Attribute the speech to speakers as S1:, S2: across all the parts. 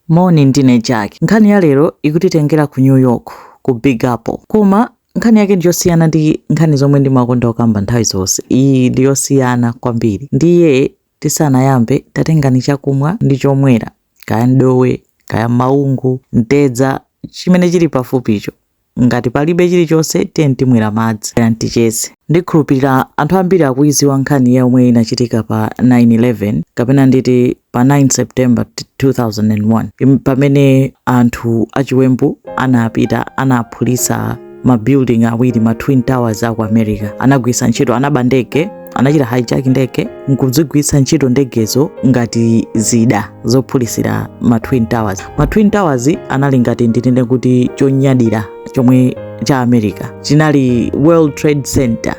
S1: Moni, ndine Jack. Nkhani ya lero ikutitengera ku New York, ku Big Apple. Koma nkhani yake ndi yosiyana ndi nkhani zomwe ndimakonda kukamba nthawi zonse. Iyi ndi yosiyana kwambiri. Ndiye tisanayambe, tatengani chakumwa ndi chomwera, kaya ndowe, kaya maungu, mtedza, chimene chili pafupicho. Ngati palibe chilichonse, tiyeni timwere madzi. Bwerani ticheze. Ndikhulupirira anthu ambiri akuidziwa nkhani yomwe inachitika pa 9/11 kapena nditi pa 9 September 2001 im- pamene anthu achiwembu anapita anaphulitsa ma building awiri ma twin towers aku america anagwiritsa ntchito anaba ndege anachita hijack ndege nkuzigwiritsa ntchito ndegezo ngati zida zophulisira ma twin towers ma twin towers anali ngati ndinene kuti chonyadira chomwe cha america chinali world trade center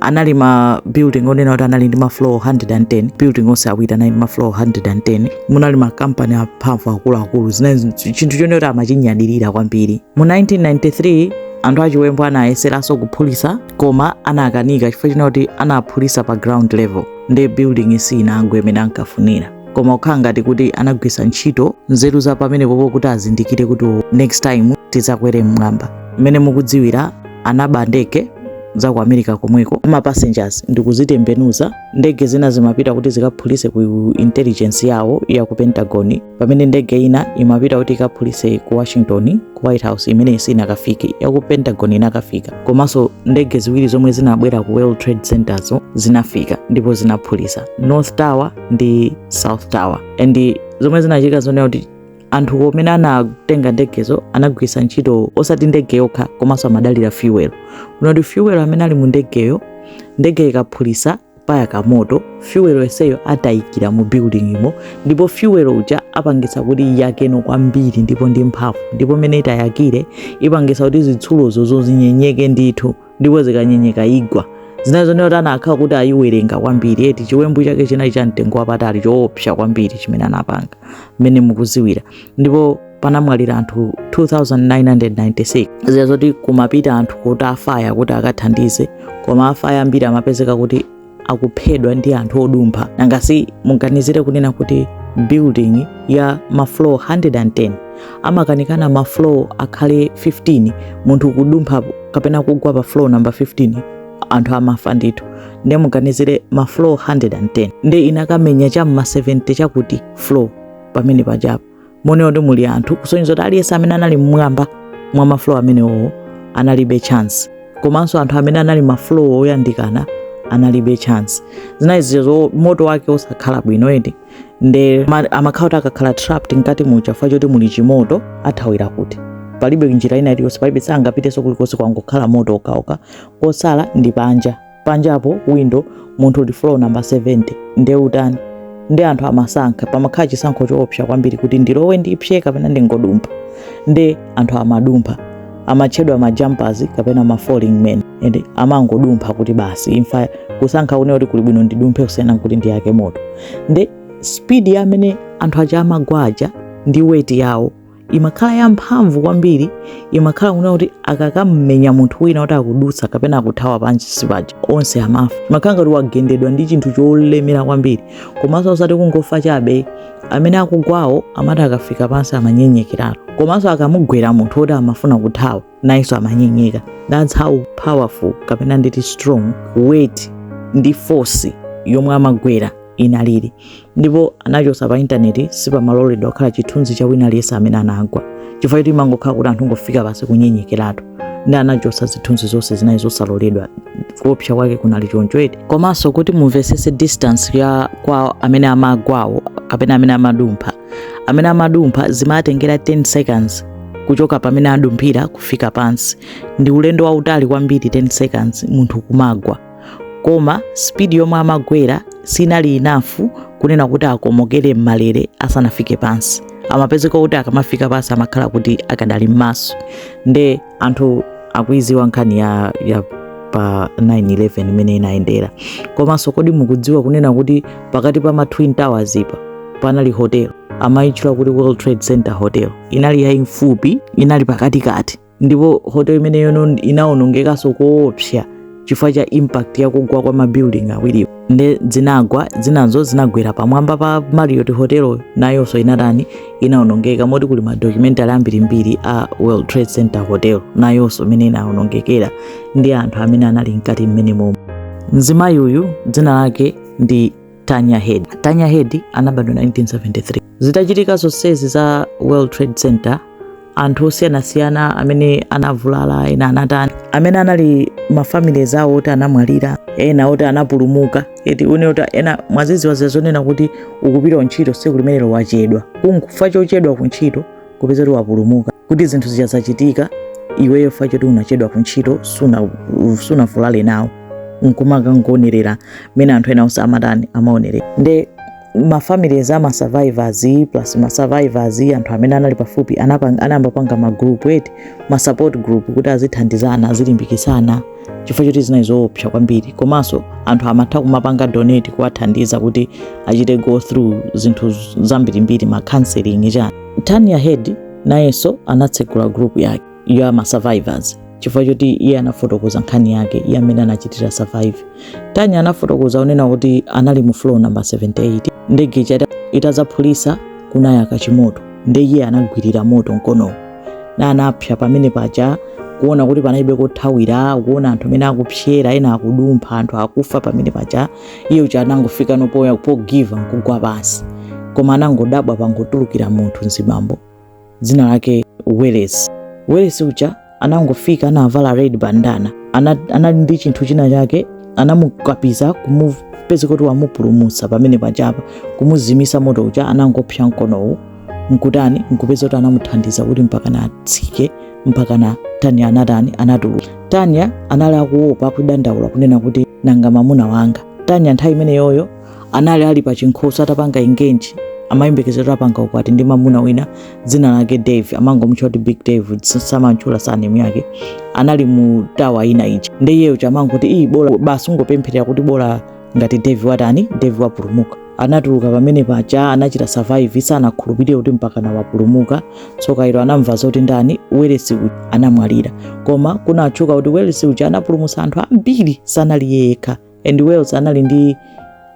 S1: anali ma building onena kuti anali ndi ma floor 110 building onse awiri anali ndi ma floor 110 munali ma company amphamvu akuluakulu zinali chinthu chonena kuti amachinyadirira kwambiri mu 1993 anthu achiwembu anayeseranso kuphulisa koma anakanika chifukwa chonena kuti anaphulisa pa ground level ndi building siinagwe imene ankafunira koma kukhala ngati kuti anagwiritsa ntchito nzeru za pamenepopo kuti azindikire kuti next time tizakwere mmwamba mmene mukudziwira anaba ndege za ku america komweko za ma passengers ndikuzitembenuza ndege zina zimapita kuti zikaphulise ku intelligence yawo ya ku pentagon pamene ndege ina imapita kuti ikaphulise ku washington ku white house imene sinakafike yaku pentagon inakafika komanso ndege ziwiri zomwe zinabwera ku world trade center zinafika ndipo zinaphulisa north tower ndi south tower and zomwe zinachitika zonena kuti anthu amene anatenga ndegezo anagwiritsa ntchito osati ndege yokha komanso amadalira fuel kunena kuti fuel amene ali mu ndegeyo ndege ikaphulisa payaka moto fyuwelo yenseyo atayikira mu buildingimo ndipo fyuwelo uja apangisa kuti iyakenso kwambiri ndipo ndi mphamvu ndipo mmene itayakire ipangisa kuti zitsulozo zizinyenyeka ndithu ndipo zikanyenyeka igwa zinali zonena kuti anakhala kuti ayiwerenga kwambiri eti chiwembu chake chinali cha mtengo wapatali choopsa kwambiri chimene anapanga mmene mukuziwira ndipo panamwalira anthu 2996 zinali zoti kumapita anthu kuti afaya kuti akathandize koma afaya ambiri amapezeka kuti akuphedwa ndi anthu odumpha nangasi muganizire kunena kuti building ya mafloor 110 ngakhale mafloor atakhala 15 munthu kudumpha kapena kugwa pa floor number 15 anthu amafa ndithu ndiye muganizire mafloor 110 ndiye inakamenya cha mma 70 chakuti floor pomwe pajapo muone kuti muli anthu kusonyeza kuti aliyense amene anali mmwamba mwa ma floor amenewowo analibe chance komanso anthu amene anali ma floor oyandikana analibe chance zinali zizo moto wake osakhala bwino edi nde ma- amakhala kuti akakhala trapped mkati muja chifukwa choti muli chimoto athawira kuti palibe njira ina iliyonse palibe sangapitenso kulikonse kwangokhala moto okhaokha kosala ndi panja panjapo window munthu uli floor number 70 nde utani ndi anthu amasankha pamakhala chisankho choopsa kwambiri kuti ndilowe ndipse kapena ndingodumpha nde anthu amadumpha amatchedwa majumpers kapena ma falling men and amangodumpha kuti basi imfa kusankha une kuti kuli bwino ndidumphe kusiyana kuti ndiyake moto nde speed yamene anthu aja amagwa aja ndi weight yawo imakhala yamphamvu kwambiri imakhala kunena kuti akakamumenya munthu wina kuti akudutsa kapena akuthawa pansi paja onse amafa imakhala ngati wagendedwa ndi chinthu cholemera kwambiri komanso osati kungofa chabe amene akugwawo amati akafika pansi amanyenyekeratu komanso akamugwera munthu woti amafuna kuthawa nayenso amanyenyeka that's how powerful kapena nditi strong weight ndi force yomwe amagwera inalili ndipo anachotsa pa intaneti sipamaloledwa kukhala chithunzi cha wina aliyense amene anagwa chifukwa choti imangokhala kuti anthu ngofika pansi kunyenyekeratu nde anachotsa zithunzi zonse zinali zosaloledwa kuopsa kwake kunali choncho eti komanso kuti mumvetsetse distance ya kwa amene amagwawo kapena amene amadumpha amene amadumpha zimatengera 10 seconds kuchoka pamene adumphira kufika pansi ndi ulendo wautali kwambiri 10 seconds munthu kumagwa koma speed yomwe amagwera sinali enough kunena kuti akomokere m'malere asanafike pansi amapezeka kuti akamafika pansi amakhala kuti akadali m'maso nde anthu akuidziwa nkhani ya, ya pa 911 mmene inayendera komanso kodi mukudziwa kunena kuti pakati pa ma twin towers apa panali hotel amayitchula kuti world trade center hotel inali yayimfupi inali pakatikati ndipo hotel imeneyo inawonongekanso koopsa chifukwa cha impact ya kugwa kwa mabuilding awiriwo nde zinagwa zinazo zinagwera pamwamba pa Marriott Hotel nayonso inatani inaonongeka moti kuli ma documentary ambirimbiri a World Trade Center Hotel nayonso mmene inaonongekera ndi anthu amene anali mkati mmenemomo mzimayi uyu dzina lake ndi Tanya Head. Tanya Head anabadwa 1973. Zitachitika zonsezi za World Trade Center anthu osiyanasiyana amene anavulala ena anatani amene anali ma families awo oti anamwalira ena oti anapulumuka eti une oti ena mwazidziwa zazonena kuti ukupita ku ntchito tsiku limenelo wachedwa kunkufika chochedwa ku ntchito kupeza kuti wapulumuka kuti zinthu zija zazachitika iweyo fa choti unachedwa ku ntchito suna- sunavulale nawo nkumakangonerera mmene anthu ena onse amatani amaonerera nde mafamilies ama survivors plus ma survivors anthu amene anali pafupi anapang- anayamba kupanga ma group eti ma support group kuti azithandizana azilimbikitsana chifukwa choti zinali zoopsa kwambiri komanso anthu amatha kumapanga donate kuwathandiza kuti achite go through zinthu zambirimbiri ma counseling chani Tanya Head nayenso anatsegula group yake ya ma survivors chifukwa choti iye anafotokoza nkhani yake iye mmene anachitira survive. Tanya anafotokoza onena kuti anali mu floor number 78 ndege ija itazaphulisa kunayaka chimoto nde iye anagwirira moto mkonowu nde anapsa pamene paja kuona kuti panalibe kothawira kuona anthu amene akupsera ena akudumpha anthu akufa pamene paja iye uja anangofika popanga give up nkugwa pansi koma anangodabwa pangotulukira munthu mzibambo dzina lake Welles Welles uja anangofika anavala red bandana ana- anali ndi chinthu china chake anamukapiza kumupeza kuti wamupulumutsa pamene pajapa kumuzimisa moto uja anangopsa mkonowu nkutani nkupeza kuti anamuthandiza kuti mpakana atsike mpakana Tanya anatani anatuluka Tanya anali akuopa kudandaula kunena kuti nanga mamuna wanga Tanya nthawi imeneyoyo anali ali pa chinkhoswe atapanga engage amayembekezera zoti apanga ukwati ndi mamuna wina dzina lake Dave amangomutcha kuti Big Dave samantchula surname yake anali mu tower ina ija nde iye uja amangoti ii basi kungopempherera kuti bola ngati Dave watani Dave wapulumuka anatuluka pamene paja anachita survive sanakhulupirire kuti mpakana wapulumuka tsoka ilo anamva zoti ndani Welles uja anamwalira koma kunatchuka kuti Welles uja anapulumutsa anthu ambiri sanali yekha and Welles anali ndi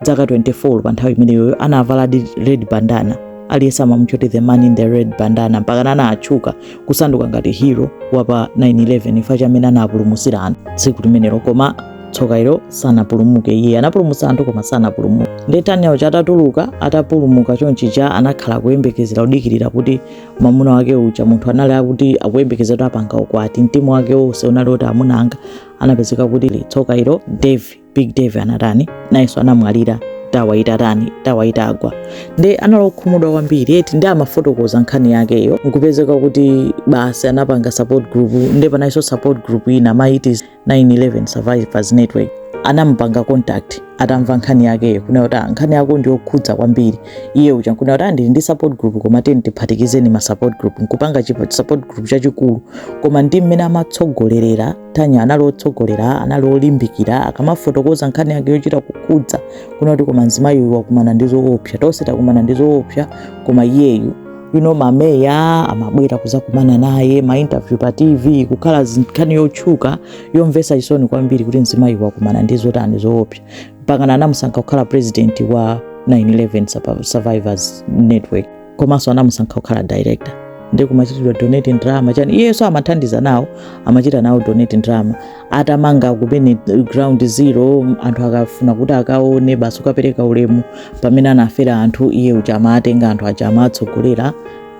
S1: zaka 24 pa nthawi imeneyoyo anavala the red bandana aliyense amamutcha kuti the man in the red bandana mpaka anatchuka kusanduka ngati hero wapa 911 chifukwa cha mmene anapulumutsira anthu tsiku limenelo koma tsoka ilo sanapulumuke iye anapulumutsa anthu koma sanapulumuke nde Tanya uja atatuluka atapulumuka chonchija anakhala kuyembekezera kudikirira kuti mamuna wake uja munthu anali akuti akuyembekezera kuti apanga ukwati mtima wake wonse unali kuti amuna anga anapezeka kuti tsoka ilo Dave Big Dave anatani nayenso anamwalira tower itatani tower itagwa nde anali okhumudwa kwambiri eti nde amafotokoza nkhani yakeyo nkupezeka kuti basi anapanga support group nde panalinso support group ina amaiti 911 Survivors Network anamupanga contact atamva nkhani yakeyo kunena kuti "Ah, nkhani yakeyo ndi yokhudza kwambiri iye uja nkunena kuti "Ah, ndili ndi support group koma tiyeni tiphatikizeni ma support group nkupanga chipa- support group chachikulu koma ndi mmene amatsogolerera Tanya anali otsogolera anali olimbikira akamafotokoza nkhani yake yochita kukhudza kunena kuti koma mzimayi uyu wakumana ndi zoopsa tonse takumana ndi zoopsa koma iyeyu you know, ma media amabwera kuzakumana naye mainterview pa tv kukhala nkhani yotchuka yomvesa chisoni kwambiri kuti mzimayi wakumana ndi zotani zoopsa mpakana anamusankha kukhala president wa 911 survivors network komanso anamusankha kukhala director ndi kumachitidwa donate drama chani iyeso amathandiza nawo amachita nawo donate drama atamanga kumene ground zero anthu akafuna kuti akaone basi kukapereka ulemu pamene anafera anthu iye uja amatenga anthu aja amatsogolera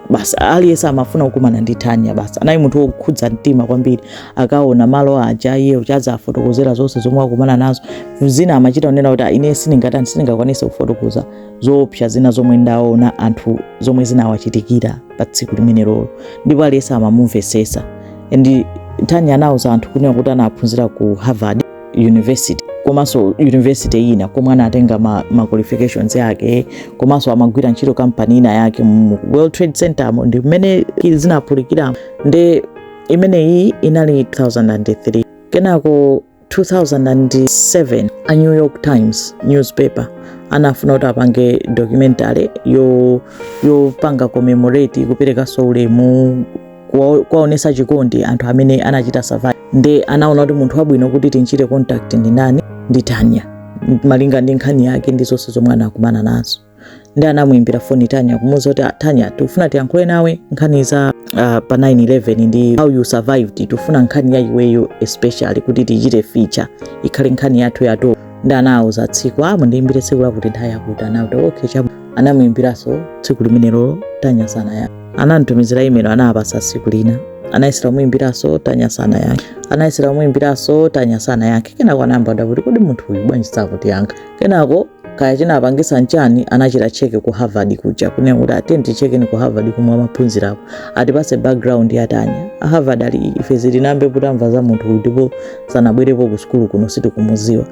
S1: basi aliyense amafuna kukumana ndi Tanya basi anali munthu wokhudza mtima kwambiri akaona malo aja iye uja azafotokozera zonse zomwe akumana nazo zina amachita kunena kuti "Ah, ine sindingathe sindingakwanise kufotokoza zoopsa zina zomwe ndaona anthu zomwe zinawachitikira pa tsiku limenelolo ndipo aliyense amamumvesesa and tanya anauza anthu kunena kuti anaphunzira ku harvard university komanso university ina komwe anatenga ma, ma qualifications yake komanso amagwira ntchito kampani ina yake mu world trade center mo nthawi imene zinaphulikira nde imeneyi inali 2003 kenako 2007 a new york times newspaper anafuna kuti apange documentary yo yopanga commemorate kuperekanso ulemu kuwa- kuwaonesa chikondi anthu amene anachita survive nde anaona kuti munthu wabwino kuti tinchite contact ndi ndani ndi tanya malinga ndi nkhani yake ndi zonse zomwe anakumana nazo ndi anamuimbira foni Tanya kumuuza kuti "Ah, Tanya tikufuna tiyankhule nawe nkhani za ah, pa 911 ndi how you survived tikufuna nkhani ya iweyo especially kuti tichite feature ikhale nkhani yathu ya top ndi anauza tsiku mundiimbire tsiku lakuti nthawi yakuti anati okay chabwino anamuimbiranso tsiku limenelo Tanya sanayankhe anamtumizira imelo anapasa tsiku lina anayesera kumuimbiranso Tanya sanayankhe anayesera kumuimbiranso Tanya sanayankhe kenako anayamba kuti kodi munthu uyu bwanji sakutiyankha kenako kaya chinapangisa nchani anachita check ku harvard kuja kunena kuti tiyeni tichekeni ku harvard komwe amaphunzirapo atipase background ya Tanya a harvard ali ife sitinayambe tamva za munthu uyu ndipo sanabwerepo ku sukulu kuno sitikumuziwa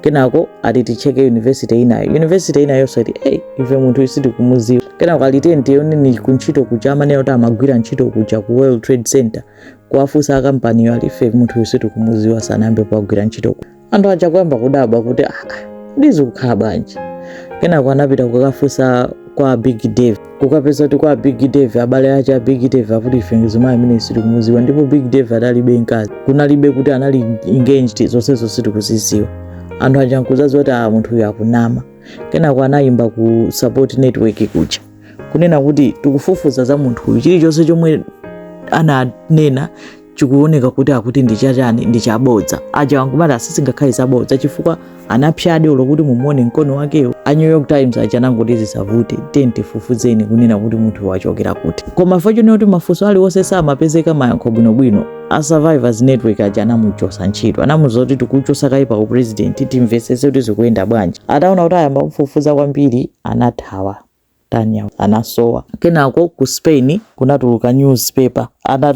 S1: kenako ati ticheke university inayo university inayonso ati hey, ife munthu uyu sitikumuziwa kenako ali tiyeni tioneni kuntchito kuja amanena kuti amagwira ntchito kuja ku world trade center kuwafunsa akampaniyo ali ife munthu uyu sitikumuziwa sanayambe wagwira ntchito kuja anthu aja kuyamba kudabwa kuti aa nde zikukhala bwanji kenako anapita kukafunsa kwa big dave kukapeza kuti kwa big dave abale ache a big dave akuti ife mzimayi ameneyu sitikumuziwa ndipo big dave adalibe mkazi kunalibe kuti anali engaged zonsezo sitikuziziwa anthu aja nkuzaziwa kuti a munthu uyu akunama kenako anayimba ku support network kuja kunena kuti tikufufuza za munthu uyu chilichonse chomwe ananena chikuoneka kuti akuti ndi chachani ndi chabodza aja nkumati aa sizingakhale zabodza chifukwa anapsadi olo kuti mumuone mkono wakewo a new york times aja anangoti zisavute tiyeni tifufuzeni kunena kuti munthu wachokera kuti koma unfortunately kuti mafunso aliwonse samapezeka mayankho bwinobwino a survivors network aja anamuchosa ntchito anamuuza kuti tikuchosa kaye pa upresident timvesese kuti zikuyenda bwanji ataona kuti ayamba kumfufuza kwambiri anathawa Tanya anasowa. Kenako ku Spain kunatuluka newspaper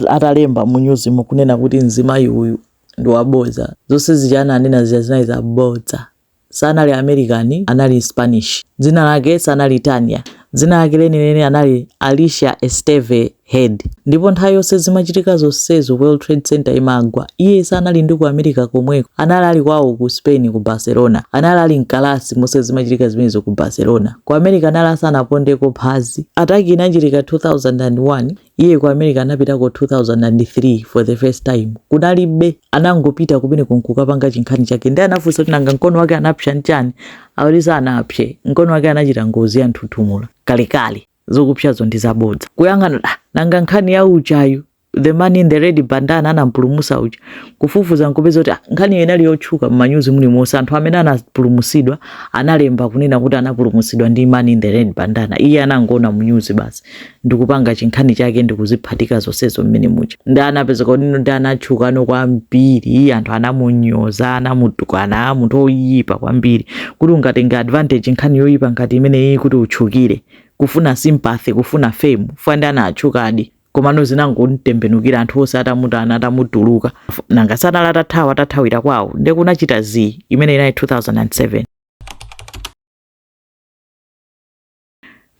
S1: atalemba mu nyuzimo kunena kuti mzimayi uyu ndi wabodza zonse zija ananena zija zinali zabodza sanali American anali Spanish dzina lake sanali Tanya dzina lake lenileni anali Alicia Esteve head ndipo nthawi yonse zimachitika zonsezo world trade center imagwa iye sanali ndi ku america komweko anali ali kwawo ku spain ku barcelona anali ali mkalasi monse zimachitika zimenezo ku barcelona ku america anali asanapondeko phazi attack inachitika 2001 iye ku america anapitako 2003 for the first time kunalibe anangopita kumeneko nkukapanga chinkhani chake ndiye anafunsa kuti nanga mkono wake anapsa nchani akuti sanapse mkono wake anachita ngozi ya nthuthumula kalekale zokupsazo ndi zabodza kuyang'ana ah, nanga nkhani ya ujayu the man in the red bandana anampulumusa uja kufufuza nkupeza kuti ah, nkhaniyo inali yotchuka mmanyuzi mulimonse anthu amene anapulumusidwa analemba kunena kuti anapulumusidwa ndi man in the red bandana iye anangoona mnyuzi basi ndikupanga chinkhani chake ndikuziphatika zonsezo mmene muja nde anapeza kaudindo nde anatchukano kwambiri anthu anamunyoza anamutukwana munthu oyipa kwambiri kuti ungatenge advantage nkhani yoyipa ngati imeneyi kuti utchukire kufuna sympathy kufuna fame fukwa nde anatchukadi komano zinangomtembenukira anthu onse atamutana atamutuluka nanga si anali atathawa atathawira kwawo nde kunachita zii imene inali 2007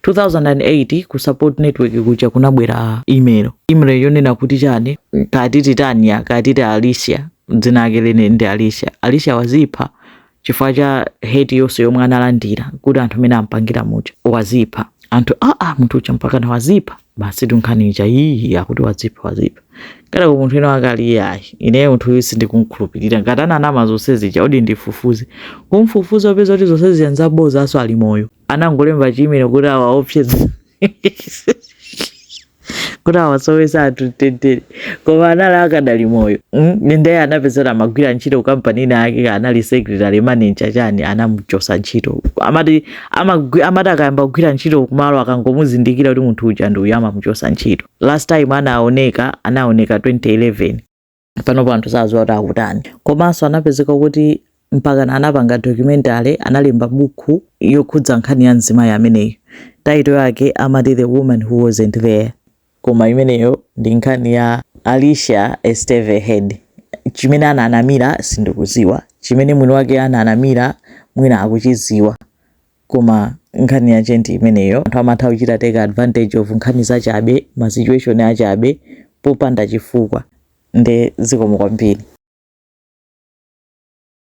S1: 2008 ku support network kuja kunabwera email email yonena kuti chani kaya titi tanya kaya titi alicia dzina lake lenileni ndi alicia alicia wazipha chifukwa cha hate yonse yomwe analandira kuti anthu mmene ampangira muja wazipha anthu aa ah, ah, munthu uja mpakana wazipha basitu nkhani ija iyi akuti wazipha wazipha kenako munthu wina wake ali iyayi ineyo munthu uyu sindikumkhulupirira ngati ananama zonse zija odi ndifufuze kumfufuza kupeza kuti zonse zija nzabodzaso ali moyo anangolemba chi email kuti awaopseza kuti awasowesa anthu mtendere koma anali akadali moyo mm? ndiye anapezeka amagwira ntchito ku kampani ina yake anali secretary manager chani anamuchosa ntchito amati amagwi- amati akayamba kugwira ntchito kumalo akangomuzindikira kuti munthu uja ndi uyu amamuchosa ntchito last time anaoneka anaoneka 2011 panopo anthu sadziwa kuti akutani komanso anapezeka kuti mpaka anapanga documentary analemba buku yokhudza nkhani ya mzimayi ameneyo title yake amati the woman who wasn't there koma imeneyo ndi nkhani ya alicia esteve head chimene ananamira sindikuziwa chimene mwini wake ananamira mwina akuchiziwa Koma nkhani yake ndi imeneyo anthu amatha kuchita take advantage of nkhani zachabe, ma situation achabe popanda chifukwa nde zikomo kwambiri.